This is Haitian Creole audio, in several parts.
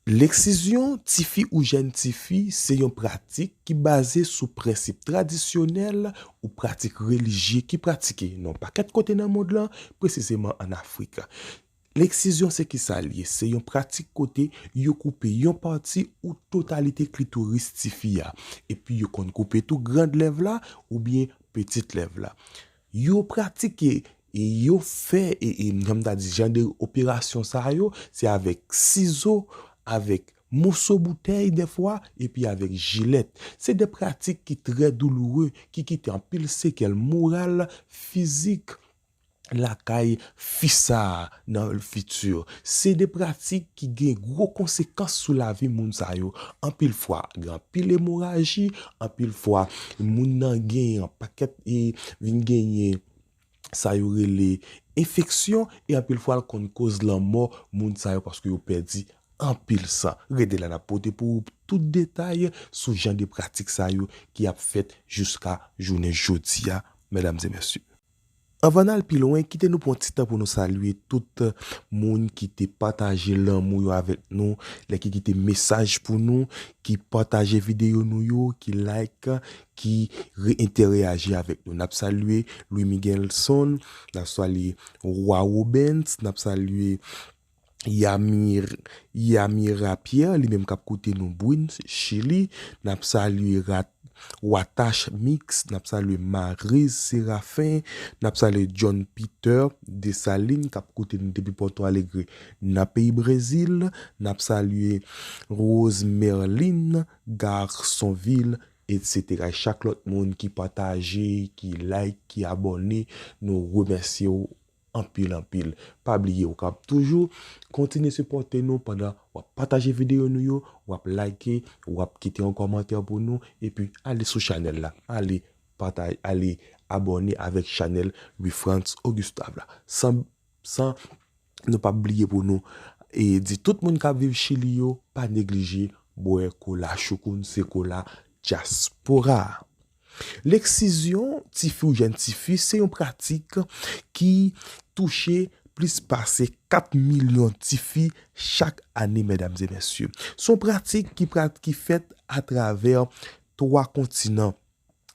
Leksizyon tifi ou jèn tifi se yon pratik ki baze sou prensip tradisyonèl ou pratik relijye ki pratike nan yon pakèt kote nan mond lan, presizeman an Afrik. Leksizyon se ki sa l ye? Se yon pratik kote yo koupe yon pati ou totalite klitoris tifi a. Epi yo konn koupe tou grand lèv la oubyen pitit lèv la. Yo pratike e yo fè jan m ta di jan de operasyon sa yo se avèk sizo, avèk moso boutèy dèfwa epi avèk jilèt. Se de pratik ki trè douloure ki kite anpil sekèl moral, fizik lakay fi sa a nan lfiti. Se de pratik ki gen gwo konsekans sou lavi moun sa yo. Anpil fwa, gen anpil emoraji, anpil fwa moun nan gen yon pakèt e vin genyen sa yo rele enfeksyon e anpil fwa l konn koz lanmò moun sa yo paske yo pèdi anpil san. Rete la n ap pote pou ou tout detay sou jan de pratik sa yo ki ap fèt jiska jounen jodi a, medam e mesye. Anvan n al pi lwen, kite nou pran ti tan pou nou salye tout moun ki te pataje lanmou yo avèk nou, lè ki kite mesaj pou nou, ki pataje videyo nou yo, ki like, ki re-entèreyaji avèk nou. N ap salye Louis Miguelson, n ap salye Roy Robens, n ap salye. Yamira Pierre li menm kap koute nou Bruns chili nap salye Watash mix nap salye Maryse Seraphin nap salye John Peter Dessalines kap koute nou depi Porto Alegre nan peyi Brezil nap salye Rose Merline Garçonville etc chak lòt moun ki pataje ki like ki abòne nou remèsyew anpil anpil pa bliye ou kap toujou kontinye sipòte nou pandan wap pataje videyo nou yo wap like wap kite yon kòmantè pou nou epi ale sou chanèl la ale pataj ale abòne avèk chanèl Louifrantz Augustin la san san nou pap bliye pou nou e di tout moun kap viv chili yo pa neglije bwè kola choukoun se kola dyaspora. Lèksizyon tifi ou jèn tifi se yon pratik ki touche plis pase 4 milyon tifi chak ane medam e mesye. Se yon pratik ki pra ki fèt atravè 3 kontinan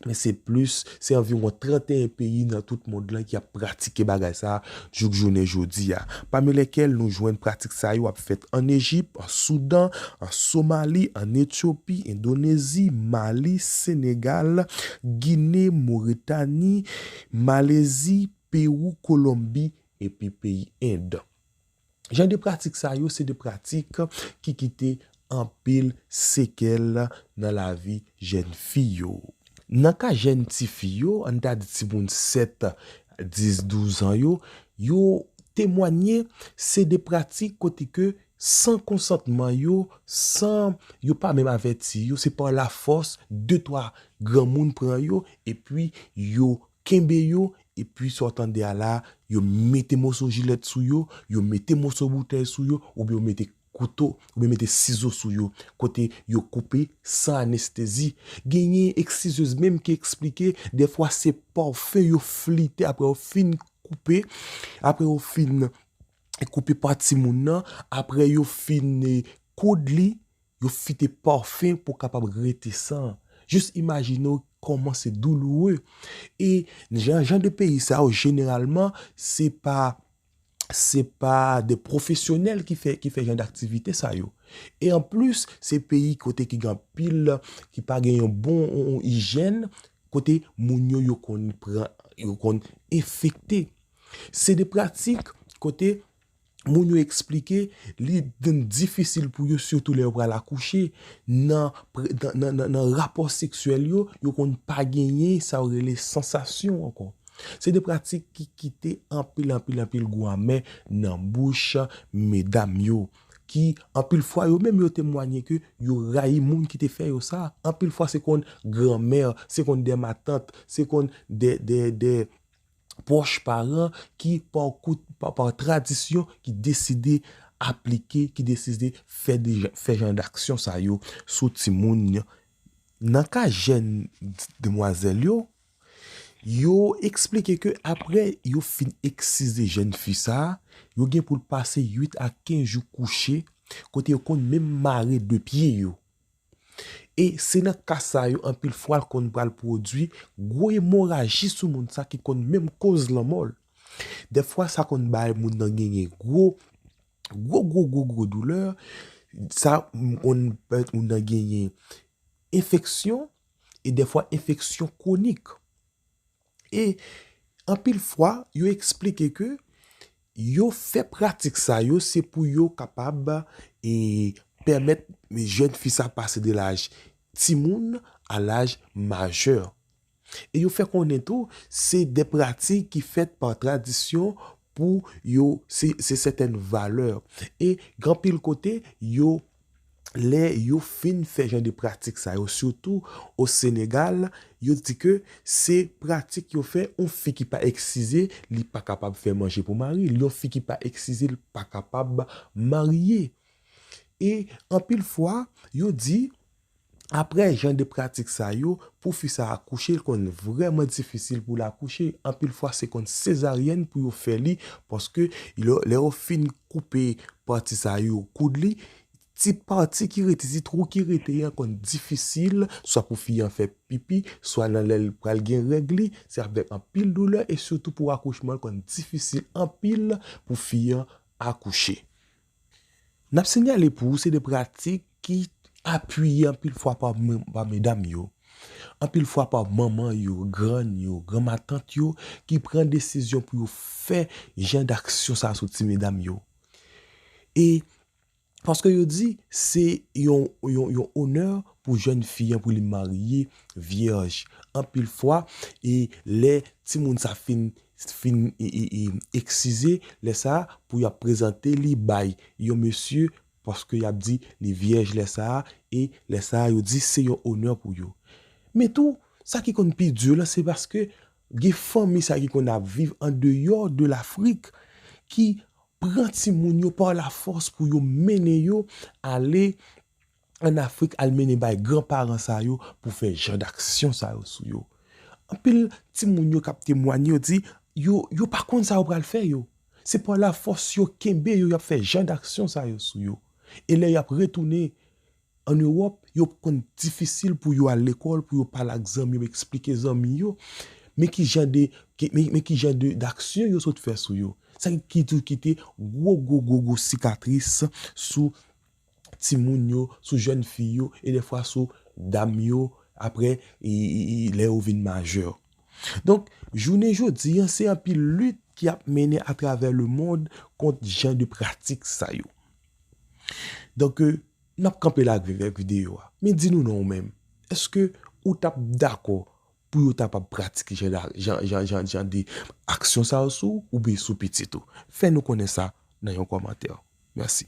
men se plis se anviwon 31 peyi nan tout mond lan ki ap pratike bagay sa Jouk jounen jodi a, pami lèkèl nou jwenn pratik sa yo ap fèt ann Ejip, an Soudan, an Somali, ann Etyopi, Endonezi, Mali, Senegal, Gine, Moretani, Malezi, Pewou, Kolonbi, epi peyi End. Jan de pratik sa yo se de pratik ki kite anpil sekèl nan lavi jèn fi yo. Nan ka jèn ti fi yo, an n ta di timoun 7, 10, 12 an yo, yo temwanye se de pratik kote ke san konsantman yo, san yo pa menm avèti yo, se pa lafòs de twa granmoun pran yo epi yo kenbe yo, epi sa w tande a la, yo mete moso jilèt sou yo, yo mete moso boutèy sou yo oubyen yo mete. kouto oubyen mete sizo sou yo kote yo koupe san anestezi. Genyen eksizyez menm ki eksplike defwa se pòfe yo flite apre yo fin koupe, apre yo fin koupe po timoun nan, apre yo fin koud li, yo fite pòfe pou kapab rete san. Jis imajine w kòman se douloure. E jan de peyi sa yo jeneralman se pa. se pa de pwofesyonèl ki fè ki fè jan d'aktivite sa yo. E an plis, se peyi kote ki gen anpil, ki pa gen yon bon ijèn, kote moun yo yo konn pran, yo konn enfekte. Se de pratik kote moun yo eksplike li vin difisil pou yo sitou lè yo pral akouche, nan rapò seksyèl yo, yo konn pa genyen sa yo rele sansasyon ankò. Se de pratik ki kite anpil anpil anpil gou amè nan bouch medam yo, ki anpil fwa yo menm yo temwanye ke yo rayi moun ki te fè yo sa. Anpil fwa se konn granmè, se konn de matant, se konn de pwòch paran ki pa tradisyon ki deside aplike, ki deside fè jan daksyon sa yo sou timoun. Nan ka jèn demwazèl yo, Yo eksplike ke apre yo fin eksize jèn fi sa a, yo gen pou l pase 8 a 15 jou kouche, kote yo konn menm mare 2 pye yo. E se nan ka sa yo anpil fwa l konn pral pwodui gwo emoraji sou moun sa ki konn menm koz lanmò l. Dèfwa sa konn bay moun nan genyen gwo gwo gwo gwo gwo doulè, sa konn pèmèt moun nan genyen enfeksyon, e dèfwa enfeksyon kwonik. E anpil fwa yo eksplike ke yo fè pratik sa yo se pou yo kapab e pèmèt jèn fi sa pase de laj timoun a laj majè. E yo fè konnen tou se de pratik ki fèt pa tradisyon Pou yo, se se sètèn valè. E gen anpil kote, yo, lè yo fin fè jan de pratik sa yo, sitou o Senegal, yo di ke se pratik yo fè, yon fi ki pa eksise, li pa kapab fè manje pou mari l, yon fi ki pa eksise l pa kapab marye. E anpil fwa, yo di. Aprè jan de pratik sa yo, pou fi sa akouche li konn vrèman difisil pou l akouche, anpil fwa se konn sezaryèn pou yo fè li paske lè yo fin koupe pati sa yo koud li, ti pati ki rete, ti twou ki rete an konn difisil swa pou fi an fè pipi, swa nan lè l pral gen règ li, se avèk anpil doulè e sitou pou akouchman l konn difisil anpil pou fi an akouche. N ap sinyale pou ou se de pratik ki apiye anpil fwa pa medam yo, anpil fwa pa manman yo, grann yo, granmatant yo ki pran desizyon pou yo fè jan daksyon sa sou ti medam yo. E paske yo di se yon onè pou jèn fi an pou li marye vyèj. Anpil fwa e lè timoun sa fin fin eksize lè sa pou yap prezante li bay yon mesye paske yap di li vyèj lè sa e lè sa yo di se yon onè pou yo men tou sa ki konn pi di lan se paske gen fanmi sa ki konn ap viv an deyò de lafrik ki pran timoun yo pa lafòs pou yo mennen yo ale. an Afrik al mennen bay gran paran sa yo pou fè jan daksyon sa yo sou yo. Anpil timoun yo k ap temwanye yo di yo yo pa konn sa yo pral fè yo. Se pa lafòs yo kenbe yo y ap fè jan daksyon sa yo sou yo. E lè y ap retounen ann Ewòp, yo p konn difisil pou yo al lekòl, pou yo pale ak zanmi yo, eksplike zanmi yo men ki jan de men ki jan de daksyon yo sot fè sou yo. Sa ki toujou kite gwo gwo gwo gwo sikatris sou. timoun yo, sou jèn fi yo e dèfwa sou dam yo apre lè yo vin majè. Donk, jounen jodi an, se anpil lit ki ap mennen atravè lemond kont jan de pratik sa yo. Donk, n ap kanpe la avèk videyo a. Men di nou non ou menm, èske ou t ap dakò pou yo ta pa pratike jan de aksyon sa yo sou ou oubyen sou pitit ou? Fè nou konnen sa nan yon kòmantè. Mèsi.